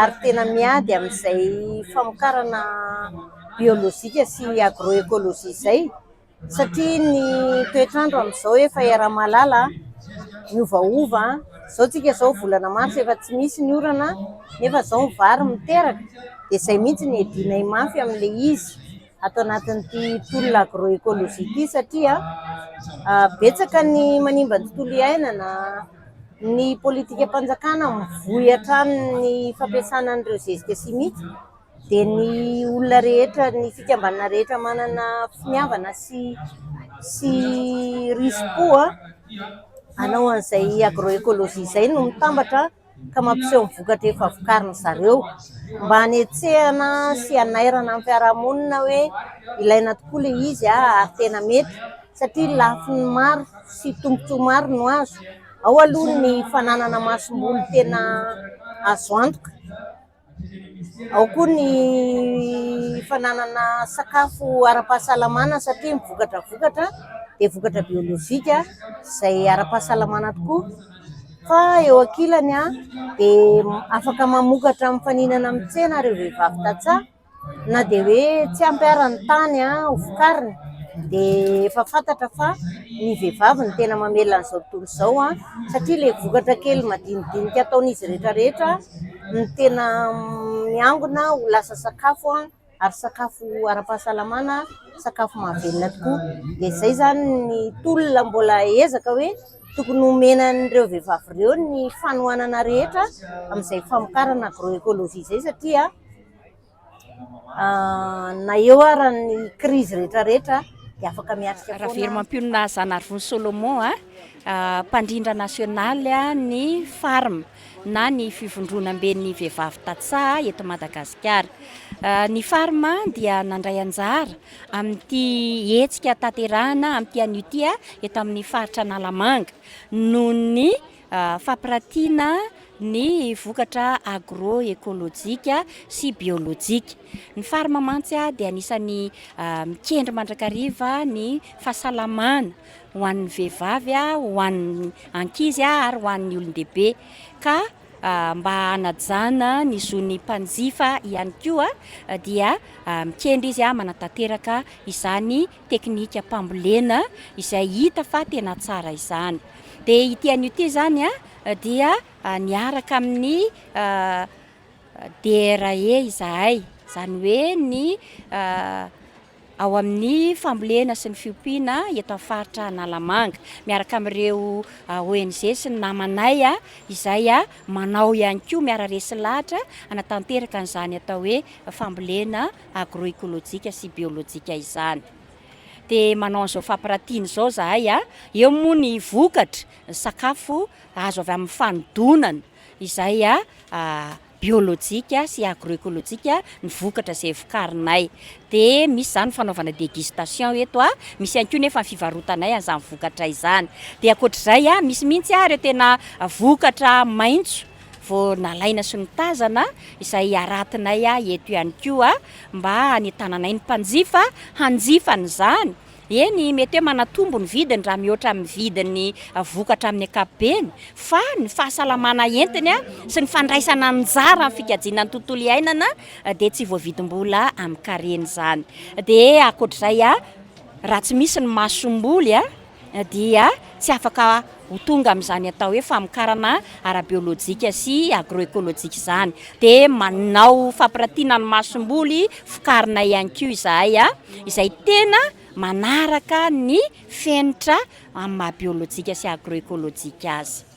ary tena miady amin'izay famokarana biolojika sy agroekolojia izay satria ny toetr'andro amin'izao efa era-malala, miovaova, izao tsika izao volana marsa efa tsy misy ny orana nefa izao ny vary miteraka dia izay mihitsy no iadianay mafy amin'ilay izy. ato anatin'ity tolona agro-ecologie ity satria betsaka ny manimba ny tontolo iainana, ny politikam-panjakana mivoy hatrany ny fampiasana an'ireo zezika simika dia ny olona rehetra, ny fikambanana rehetra manana finiavana sy sy risim-po hanao an'izay agro-ecologie izay no mitambatra. ka mampiseho ny vokatra efa vokarin'ny zareo mba hanetsehana sy hanairana ny fiarahamonina hoe ilaina tokoa ilay izy ary tena mety satria lafiny maro sy tombontsoa maro no azo ao aloha ny fananana masomboly tena azo antoka Ao koa ny fananana sakafo ara-pahasalamana satria ny vokatra vokatra dia vokatra biolojika izay ara-pahasalamana tokoa. Fa eo ankilany dia afaka mamokatra mifaninana amin'ny tsena ireo vehivavy tantsaha. na dia hoe tsy ampy ary ny tany ho vokarina dia efa fantatra fa ny vehivavy no tena mamela an'izao tontolo izao satria ilay vokatra kely madinidinika ataon'izy rehetra rehetra no tena miangona ho lasa sakafo ary sakafo ara-pahasalamana, sakafo mahavelona tokoa. Dia izay izany ny tolona mbola ezaka hoe tokony homena an'ireo vehivavy ireo ny fanohanana rehetra amin'izay famokarana agro-ekology izay satria ... Ravelomampionona Zanarivony Solomon, mpandrindra nasionaly ny Farm na ny Fivondronamben'ny vehivavy tantsaha eto Madagasikara. Ny Farm dia nandray anjara amin'ity hetsika tanterahina amin'ity anio ity eto amin'ny faritra Analamanga noho ny Fampiratiana ny vokatra agro-ekolojika sy biolojika. Ny farma mantsy dia anisan'ny mikendry mandrakariva ny fahasalamana ho an'ny vehivavy, ho an'ny ankizy ary ho an'ny olon-dehibe. Ka mba hanajana ny zon'ny mpanjifa ihany koa dia mikendry izy manatanteraka izany teknikam-pambolena izay hita fa tena tsara izany. Dia ity anio ity izany dia niaraka amin'ny DRE izahay, izany hoe ny ao amin'ny fambolena sy ny fiompiana eto amin'ny faritra Analamanga, miaraka amin'ireo ONG sy ny namanay izay manao ihany koa miara-resy lahatra hanatanteraka an'izany atao hoe fambolena agroekolojika sy biolojika izany. Dia manao an'izao fampiratiana izao izahay, eo moa ny vokatra, ny sakafo azo avy amin'ny fanodonana izay biolojika sy agroekolojika ny vokatra izay vokarinay. Dia misy izany fanaovana dégustation eto, misy ihany koa nefa ny fivarotanay an'izany vokatra izany. Dia ankoatr'izay, misy mihitsy ireo tena vokatra maitso, vao nalaina sy notazana izay haratinay eto ihany koa mba hanitananay ny mpanjifa hanjifa an'izany. Eny, mety hoe manatombo ny vidiny raha mihoatra amin'ny vidin'ny vokatra amin'ny ankapobeny, fa ny fahasalamana entiny sy ny fandraisana anjara amin'ny fikajiana ny tontolo iainana dia tsy voavidim-bola amin-karena izany. Dia ankoatr'izay, raha tsy misy ny masomboly, dia tsy afaka ho tonga amin'izany atao hoe famokarana ara-biolojika sy agro-ekolojika izany. Dia manao fampiratiana ny masomboly vokarina ihany koa izahay, izay tena manaraka ny fenitra amin'ny maha-biolojika sy agro-ekolojika azy.